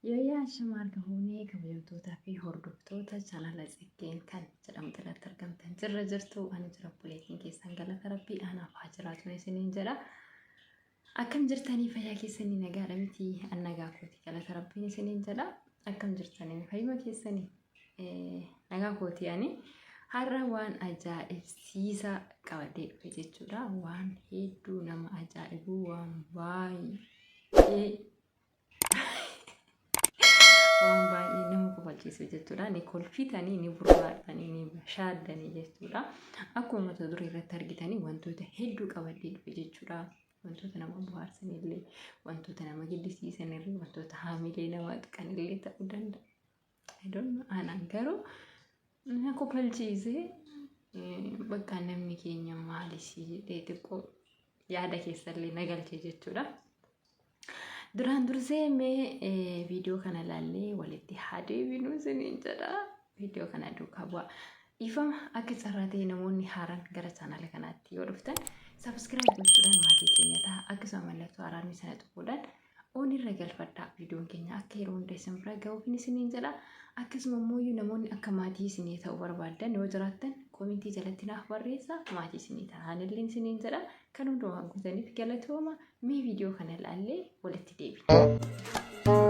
Yooyyaa shama harka fuunee kabajamtootaa fi hordoftoota chaanala xiqqeen kan jedhamte irratti argamtan jirra jirtu ani jira buleetiin keessan galata rabbii anaaf haa jiraatu isiniin jedha. Akkam jirtanii fayyaa keessanii nagaadha miti an nagaa kooti galata rabbiin isiniin jedha akkam jirtanii fayyuma keessanii nagaa kooti ani har'a waan ajaa'ibsiisaa qabadhee dhufe jechuudha waan hedduu nama ajaa'ibu waan baay'ee waan baay'ee nama kofalchiisu jechuudha. Ni kolfitanii, ni burraaqxanii, ni shaaddanii jechuudha. Akkuma mata duree irratti argitanii wantoota hedduu qabadhee dhufe jechuudha. Wantoota nama bohaarsan illee, wantoota nama gaddisiisan illee, wantoota haamilee nama tuqan illee ta'uu danda'a. Hedduun aanaan garuu na kofalchiisee bakka namni keenya maalisii jedhee xiqqoo yaada keessallee na galchee jechuudha. Duraan dursee mee viidiyoo kana ilaallee walitti haa deebinu isiniin jedha. Viidiyoo kana duukaa bu'a. Dhiifama akka carraa ta'e namoonni haaraan gara chaanaala kanaatti yoo dhuftan sabiskiraayib gochuudhaan maatii keenya ta'a. Akkasuma mallattoo haaraanii sana tuquudhaan oon irra galfadhaa viidiyoon keenya akka yeroo hunda isin bira ga'uufin isiniin jedha akkasuma immoo namoonni akka maatii isinii ta'uu barbaaddan yoo jiraattan koomintii jalatti naaf barreessa maatii isinii ta'an illee isiniin jedha kan hundumaa guutaniif galatooma mee viidiyoo kana ilaallee walitti deebina.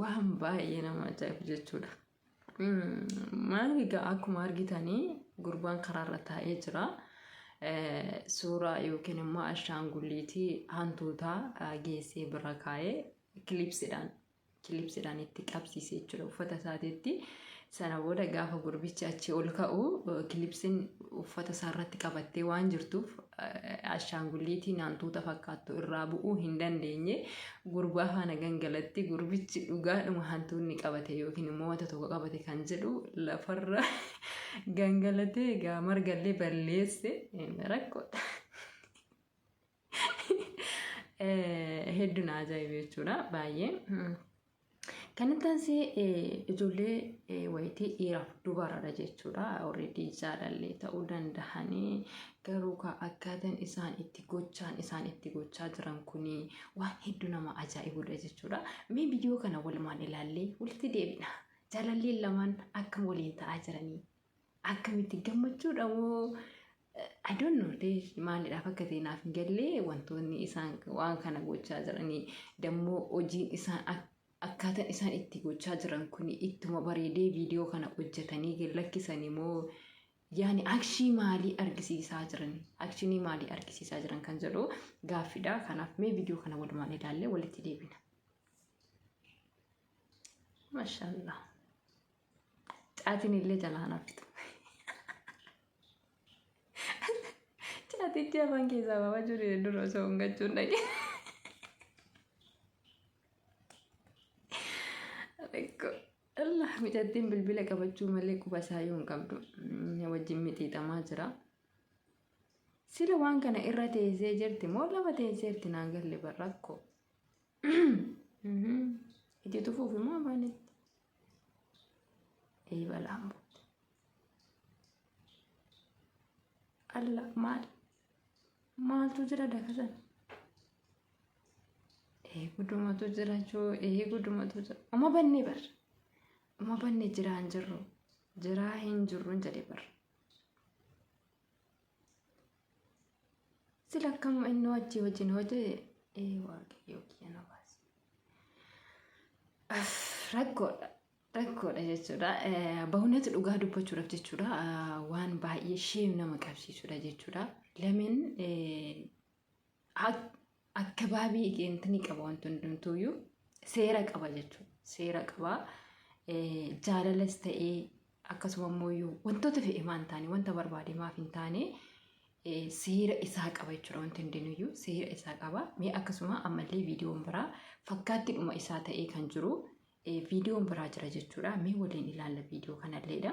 waan baay'ee nama ajaa'ibu jechuudha. Maal egaa akkuma argitanii gurbaan karaarra taa'ee jira. Suuraa yookiin immoo ashaangulliitii hantuutaa geessee bira kaa'ee kilipsidhaan kilipsidhaan itti qabsiise jechuudha uffata isaatiitti. Sana booda gaafa gurbichi achi ol ka'u kilipsiin uffata isaa irratti qabattee waan jirtuuf ashaangulliitii naantuuta fakkaattu irraa bu'uu hin dandeenye gurbaa faana gangalatti gurbichi dhugaadhuma hantuunni qabate yookiin immoo wanta tokko qabate kan jedhu lafarra gangalatee egaa margallee balleesse rakkoodha. Hedduu na ajaa'ibe jechuudha baay'ee. Kan itti aansi ijoollee wayitii dhiiraaf dubaradha jechuudha. Alreedii jaalallee ta'uu danda'anii garuu akkaataan isaan itti gochaan isaan itti gochaa jiran kun waan hedduu nama ajaa'ibudha jechuudha. Mee viidiyoo kana walumaan ilaallee walitti deebina. Jaalalleen lamaan akkam waliin ta'aa jiranii? akkamitti gammachuudha moo I don't know dee maalidhaaf akka ta'e naaf hin galle wantoonni isaan waan kana gochaa jiranii dammoo hojiin isaan ak- akkaataan isaan itti gochaa jiran kun ittuma bareedee viidiyoo kana hojjetanii gad lakkisanii moo yaani akshii maalii argisiisaa jiran akshinii maalii argisiisaa jiran kan jedhu gaaffiidha kanaaf mee viidiyoo kana walumaan ilaallee walitti deebina. Mashallah. Caatiin illee jalaa nafitu. Caatichi afaan keessaa baafachuu dide dura osoo hin gachuun dhaqe. Rakko. Allah mucattiin bilbila qabachuu malee quba isaa yoo hin qabdu mm, wajjin mixiixamaa jira. Sila waan kana irra teessee jirti moo lafa teessee jirti naan galle bar rakkoo. Itti tufuuf immoo afaanitti. Ee balaan buute. Alla maal? Maaltu jira dakasan? Ee gudumatu jira joo ee gudumatu jira. Uma bannee barra. Uma bannee jiraa hin jirru. Jiraa hin jirru hin jedhe barra. Sila akkam inni wajji wajjin hojii ee waaqayyoo kiyya na baasi. Af, Rakkoodha. Rakkoodha jechuudha. Eh, Bahunatu dhugaa dubbachuudhaaf jechuudha. Ah, Waan baay'ee sheem nama qabsiisudha jechuudha. Lamin eh, akkabaabii egeentini qaba wanti hundumtuuyyuu seera qaba jechuudha. Seera qaba jaalalas ta'ee akkasuma immoo wantoota fedhe maan taane wanta barbaade maaf hin taane seera isaa qaba jechuudha wanti hundinuyyuu seera isaa qaba. Mee akkasuma ammallee viidiyoon biraa fakkaatti dhuma isaa ta'ee kan jiru viidiyoon biraa jira jechuudha. Mee waliin ilaalla viidiyoo kanalleedha.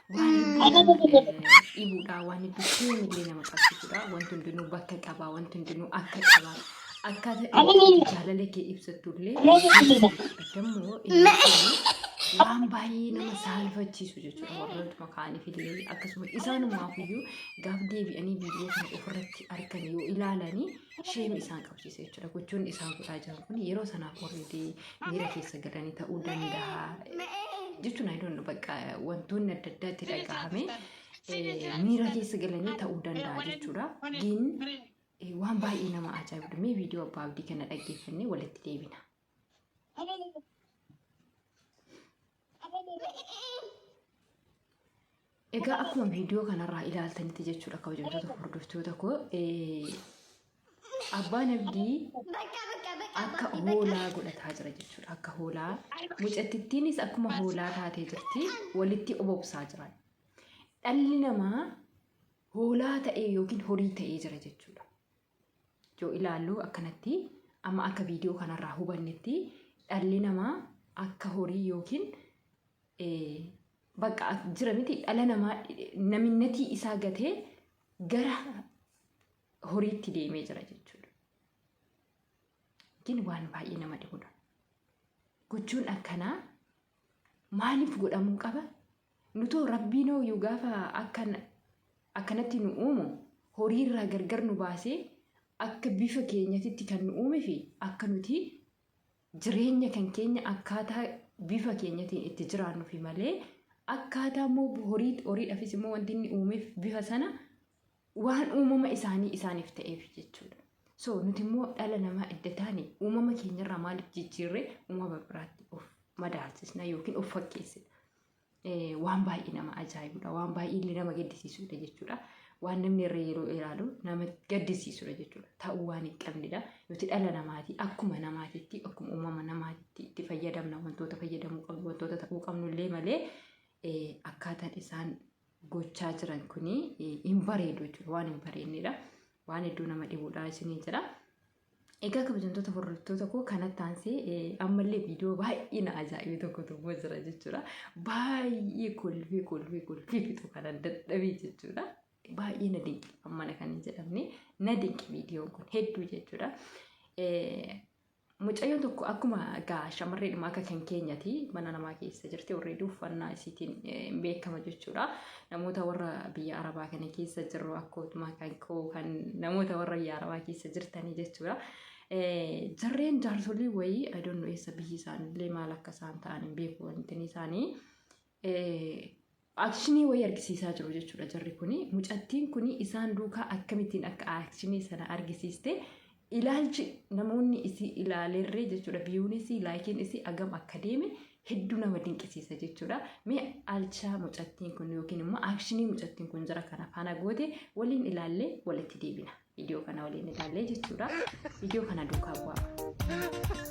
waan hedduu nama eh, dhibuudha waan hedduu sheen illee nama qabsiisudha wanti hundinuu bakka qabaa wanti hundinuu akka qabaa akkaataa itti jaalala kee ibsattu illee addammoo inni kun waan baay'ee nama saalfachiisu jechuudha warroota makaaniif illee akkasuma isaanumaaf iyyuu gaaf deebi'anii viidiyoo kana ofirratti argan yoo ilaalanii sheemi isaan qabsiise jechuudha. Gochoonni isaan godhaa jiran kun yeroo sanaaf warri miira keessa galanii ta'uu danda'a. Jechuun ayidoon bakka wantoonni adda addaa itti dhagahame miira keessa galanii ta'uu danda'a jechuudha. Diin waan baay'ee nama ajaa'ibudha. Mee viidiyoo abbaa abdii kana dhaggeeffannee walitti deebina. Egaa akkuma viidiyoo kanarraa ilaaltanitti jechuudha kabajamtoota hordoftoota koo abbaan abdii akka hoolaa godhataa jira jechuudha akka hoolaa mucattittiinis akkuma hoolaa taatee jirti walitti obobsaa jira dhalli namaa hoolaa ta'ee yookiin horii ta'ee jira jechuudha yoo ilaallu akkanatti amma akka viidiyoo kanarraa hubannetti dhalli namaa akka horii yookiin bakka jira miti dhala namaa naminnatii isaa gatee gara horiitti deemee jira jechuudha. Yookiin waan baay'ee nama dhibudha. Gochuun akkanaa maaliif godhamuu qaba? Nutoo Rabbiinooyyuu gaafa akkan akkanatti nu uumu horiirraa gargar nu baasee akka bifa keenyatitti kan nu uumefi akka nuti jireenya kan keenya akkaataa bifa keenyatiin itti jiraannufi malee akkaataa immoo horii horiidhafis immoo wanti inni uumeef bifa sana waan uumama isaanii isaaniif ta'eef jechuudha. So nuti immoo dhala namaa edda taane uumama keenyarraa maaliif jijjiirree uumama biraatti of madaalsisna yookiin of fakkeessina. Waan baay'ee nama ajaa'ibudha. Waan baay'ee illee nama gaddisiisudha jechuudha. Waan namni irra yeroo ilaalu nama gaddisiisudha jechuudha. Ta'uu waan hin qabnedha. Nuti dhala namaati akkuma namaatitti akkuma uumama namaatitti itti fayyadamna wantoota fayyadamuu qabnu wantoota ta'uu qabnu illee malee akkaataan isaan gochaa jiran kun hin bareedu jechuudha. Waan hin bareednedha. Waan hedduu nama dhibuudha isiniin jedha. Egaa kabajamtoota hordoftoota koo kanatti aansee ammallee viidiyoo baay'ee na ajaa'ibe tokko tokko jira jechuudha. Baay'ee kolfee kolfee kolfee fixu kanan dadhabee jechuudha. Baay'ee na dinqi ammana kan hin jedhamne na dinqi viidiyoon kun hedduu jechuudha. Mucayyoon tokko akkuma egaa shamarreedhuma akka kan keenyati mana namaa keessa jirti already uffannaa isiitiin hin beekama jechuudha. Namoota warra biyya Arabaa kana keessa jirru akkuma kan koo kan namoota warra biyya Arabaa keessa jirtanii jechuudha. Jarreen jaarsolii wayii I don't know eessa biyyi isaanillee maal akka isaan ta'an hin beeku wantin isaanii. Aakshinii wayii argisiisaa jiru jechuudha jarri kuni. Mucattiin kuni isaan duukaa akkamittiin akka aakshinii sana argisiiste ilaalchi namoonni isii ilaalerree jechuudha biyuun isii laayikiin isii agam akka deeme hedduu nama dinqisiisa jechuudha. Mee alchaa mucattiin kun yookiin immoo aakshinii mucattiin kun jara kana faana goote waliin ilaallee walitti deebina. Viidiyoo kana waliin ilaallee jechuudha. Viidiyoo kana duukaa bu'aa.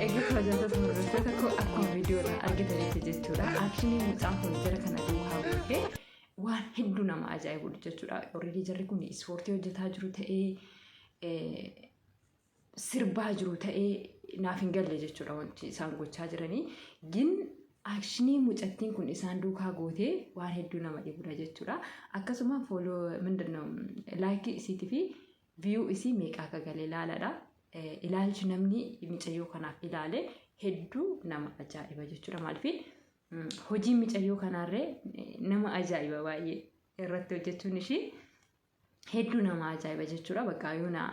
Egaa kabajamtoota hordoftoota koo akkuma viidiyoo irraa argitanitti jechuudha. Akshinii mucaan kun jara kana duukaa buutee waan hedduu nama ajaa'ibu jechuudha. Already jarri kun ispoortii hojjetaa jiru ta'ee sirbaa jiru ta'ee naaf hin galle jechuudha wanti isaan gochaa jiranii. Gin akshinii mucattiin kun isaan duukaa gootee waan hedduu nama dhibudha jechuudha. Akkasuma fooloo mindinna laayikii isiitii fi viyuu isii meeqa akka galee ilaaladha. Ilaalchi namni micayyoo kanaaf ilaale hedduu nama ajaa'iba jechuudha. Maaliif hojii micayyoo kanaarree nama ajaa'iba baay'ee irratti hojjechuun ishii hedduu nama ajaa'iba jechuudha. Bakka yoo na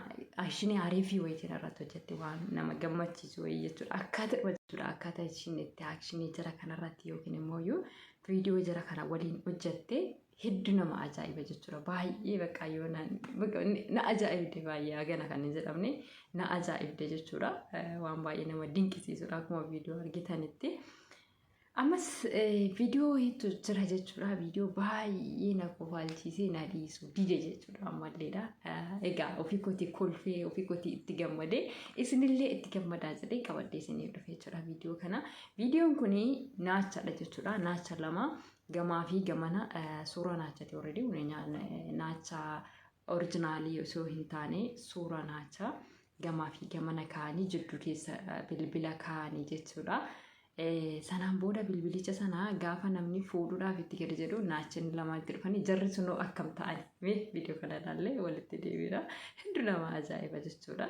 ashinii ariifii wayitiin irratti hojjette waan nama gammachiisu wayii jechuudha. Akkaataa dhufa jechuudha. Akkaataa ishiin itti akshinii jira kanarratti yookiin immoo yoo viidiyoo jira kana waliin hojjette hedduu nama ajaa'iba jechuudha. Baay'ee bakka yoo na bakka na ajaa'ibde baay'ee hagana kan hin jedhamne na ajaa'ibde jechuudha. Waan baay'ee nama dinqisiisudha akkuma viidiyoo argitanitti. Ammas viidiyoo hedduu jira jechuudha. Viidiyoo baay'ee na kofaalchiisee na dhiisu dide jechuudha ammalleedha. Egaa ofii kooti kolfee ofii kooti itti gammadee isinillee itti gammadaa jedhee qabadhee isinii dhufe jechuudha viidiyoo kana. Viidiyoon kun naachadha jechuudha. Naacha lama gamaa fi gamana suuraa naachati already naacha Orijinaalii osoo hin taane suuraa naachaa gamaa fi gamana kaa'anii jidduu keessa eh, bilbila kaa'anii jechuudha. Eh, Sanaan booda bilbilicha sana gaafa namni fuudhuudhaaf itti gadi jedhu naachonni lama itti dhufanii jarri sunoo akkam ta'ani mee viidiyoo kana ilaallee walitti deebiidha. Hedduu nama ajaa'iba jechuudha.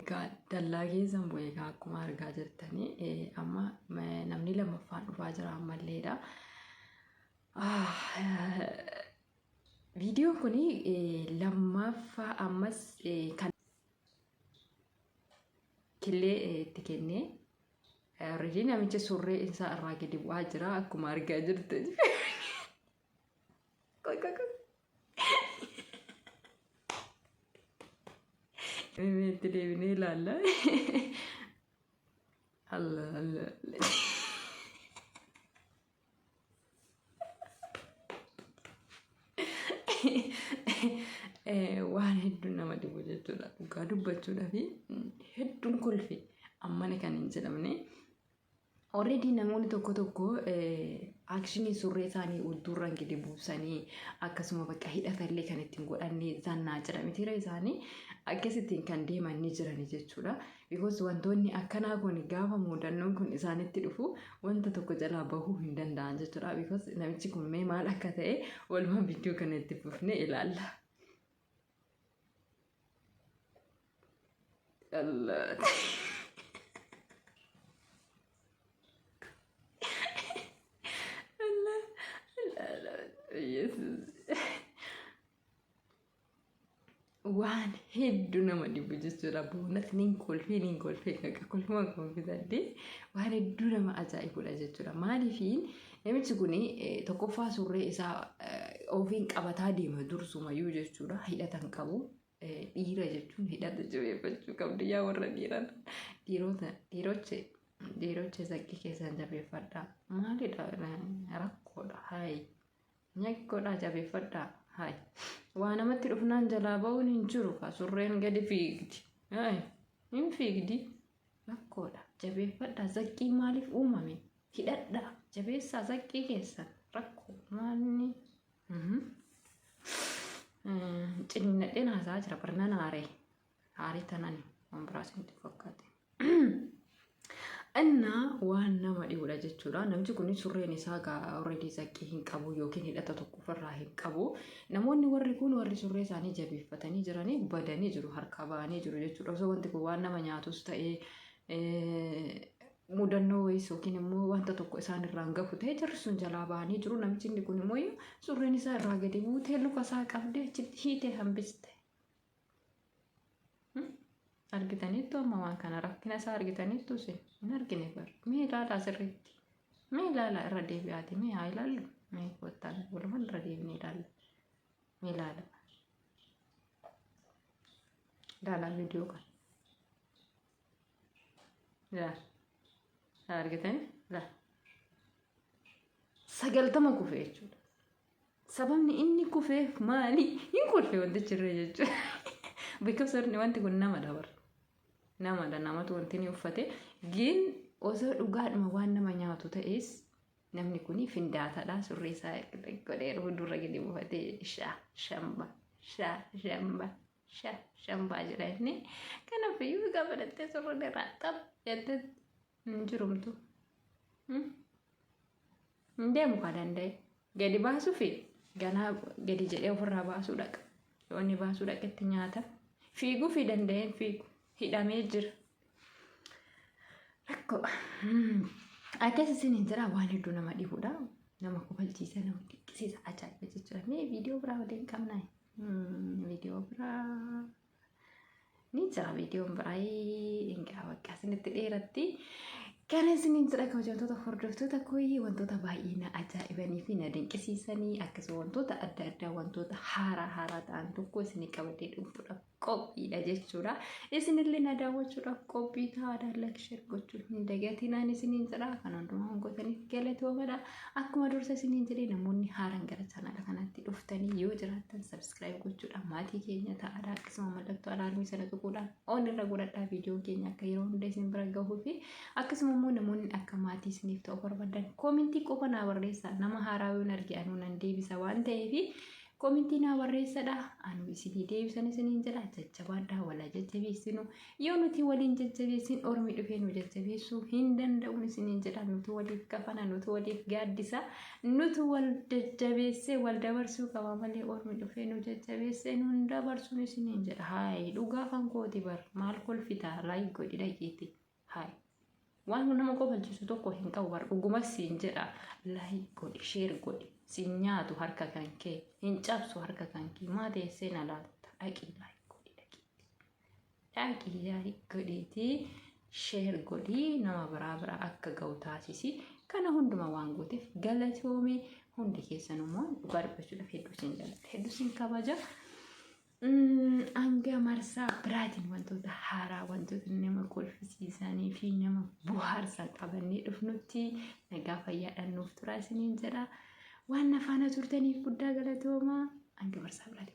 Egaa dallaa keessan bu'e egaa akkuma argaa jirtanii eh, amma eh, namni lammaffaan dhufaa jira ammalleedha. Ah, eh, Viidiyoon kun lammaffaa ammas eh, kan killee eh, itti kennee already namichi surree isaa irraa gadi bu'aa jira akkuma argaa jirtanii. Koy koy koy. Itti deebinee ilaalla. Alla alla. Waan hedduun nama dhibu jechuudha. Dhugaa dubbachuudhaaf hedduun kolfe ammana kan hin jedhamne Already namoonni tokko tokko akshinii surree isaanii ultuurraan gadi buusanii akkasuma bakka hidhatallee kan ittiin godhannee zannaa jira mitiira isaanii akkasittiin kan deeman ni jirani jechuudha. Bikoos wantoonni akkanaa kun gaafa muudannoon kun isaanitti dhufu wanta tokko jalaa bahuu hin danda'an jechuudha. Bikoos namichi kun mee maal akka ta'e walumaan viidiyoo kana itti fufnee ilaalla. Dhallaan. Waan hedduu nama dhibu jechuudha. Boonas niin kolfee niin kolfee qaqa kolfuma koo fidadde waan hedduu nama ajaa'ibudha jechuudha. Maaliifiin Namichi kun tokkoffaa surree isaa ofiin qabataa deema dursumayyuu jechuudha. Hidhata hin qabu. Dhiira jechuun hidhata jabeeffachuu qabdu yaa warra dhiiran. Dhiirota dhiiroche dhiiroche zaqqii keessan jabeeffadha. Maalidha rakkoodha hayi. Nyakkoodha jabeeffadha hayi. Waa namatti dhufnaan jalaa ba'uun hin jiru kaa surreen gadi fiigdi. Hayi hin fiigdi. Rakkoodha. Jabeeffadhaa. Zaqqii maaliif uumame? Hidhadhaa. Jabeessaa zaqqii keessan. Rakkoo. Maalni? Ciniinnadheen haasaa jira. Barnan aaree. Aaree tanani. Waan biraas nutti fakkaate. Innaa waan nama dhibuudha jechuudha. Namni kun surreen isaa already zaqqii hin qabu yookiin hidhata tokko ofirraa hin qabu. Namoonni warri kun warri surree isaanii jabeeffatanii jiranii badanii jiru harkaa ba'anii jiru jechuudha. Osoo wanti kun waan nama nyaatus ta'ee mudannoo wayiis yookiin immoo wanta tokko isaan irraan gahu ta'e jarri sun jalaa ba'anii jiru. Namichi inni kun immoo surreen isaa irraa gadi buutee luka isaa qabdee achitti hiitee hambiste. argitaniittu amma waan kana rakkina isaa argitaniittu isin hin argine bar mee ilaalaa sirriitti mee ilaalaa irra deebi'aati mee haa ilaallu mee kottaa walumaan irra deebinee ilaalla mee ilaala ilaalaa viidiyoo kan ilaala argitanii ilaala sagaltama kufe jechuudha Sababni inni kufeef maali? Hin kolfe wantichi irra jechuudha. Because wanti wanti kun namadha bar. Namadha namatu wanti inni uffate. Gin osoo dhugaadhuma waan nama nyaatu ta'es namni kun findaatadha surree isaa godhee fuuldurra gadi buufatee shaa shamba shaa shamba shaa shambaa jedha inni. Kanaaf iyyuu egaa barattee surree irraa xab jettee hin jirumtu. Hmm? Hin deemu kaa danda'e. Gadi baasuu fi ganaa gadi jedhee ofirraa baasuu dhaqa. Yoo inni baasuu dhaqetti nyaata. Fiiguu fi danda'een fiigu. Hidhamee jira. Rakkoo. Akkas isin hin jira waan hedduu nama dhibudha. Nama kofalchiisa, nama dhiqqisiisa, ajaa'iba jechuudha. Mee viidiyoo biraa waliin qabnaa? Viidiyoo biraa. ni jira viidiyoon biraayii egaa bakka isinitti dheeratti kan isiniin jira kabajamtoota hordoftoota kooyii wantoota baay'ee na ajaa'ibanii fi na dinqisiisanii akkasuma wantoota adda addaa wantoota haaraa haaraa ta'an tokko isinii qabatee dhufuudhaaf qophiidha jechuudha. Isinillee na daawwachuudhaaf qophii ta'aa daallakisheer gochuun hin dagatinaan isiniin jira kan hundumaa gootaniif galatoomadha. Akkuma dursa isiniin jedhee namoonni haaran gara chaanaala kanaatti dhuftanii yoo jiraattan sabskiraayib gochuudhaan maatii keenya ta'aadha akkasuma mallattoo alaarmii sana tuquudhaan ol irra godhadhaa viidiyoon keenya akka yeroo hunda isin bira gahuu fi akkasuma immoo namoonni akka maatii isiniif ta'u barbaadan koomintii qofa naa barreessaa nama haaraa yoon arge anuu nan deebisa waan ta'eef koomintii naa barreessadha anuu isinii deebisan isiniin jedha jajjabaadhaa walaa jajjabeessinu Yoo nuti waliin jajjabeessin ormi dhufee nu jajjabeessuu hin danda'uun isiniin jedha nuti waliif kafana nuti waliif gaaddisa nuti wal jajjabeessee wal dabarsuu qaba malee ormi dhufee nu jajjabeessee nu hin dabarsuun isiniin jedha haayi dhugaa kan kooti bar maal kolfitaa laayik godhi dhageeti haayi waan nama kofalchiisu tokko hin qabu bar dhuguma siin jedha laayik godhi sheer godhi siin nyaatu harka kan kee hin cabsu harka kan kee maa teessee na laatta dhaqii laayik godhi dhageeti. Laayikii gaarii godheetii sheer godhii nama biraa biraa akka ga'u taasisi. Kana hunduma waan gooteef galatoomii hundi keessan immoo dhugaa dubbachuudhaaf hedduu isin jaalladha. Hedduu isin kabaja. Mm, Hanga marsaa biraatiin wantoota haaraa wantoota nama kolfisiisanii fi nama bohaarsan qabannee dhufnutti nagaa fayyaadhaan nuuf turaa isiniin jedha. Waan na faana turtaniif guddaa galatoomaa. Hanga marsaa biraatiin.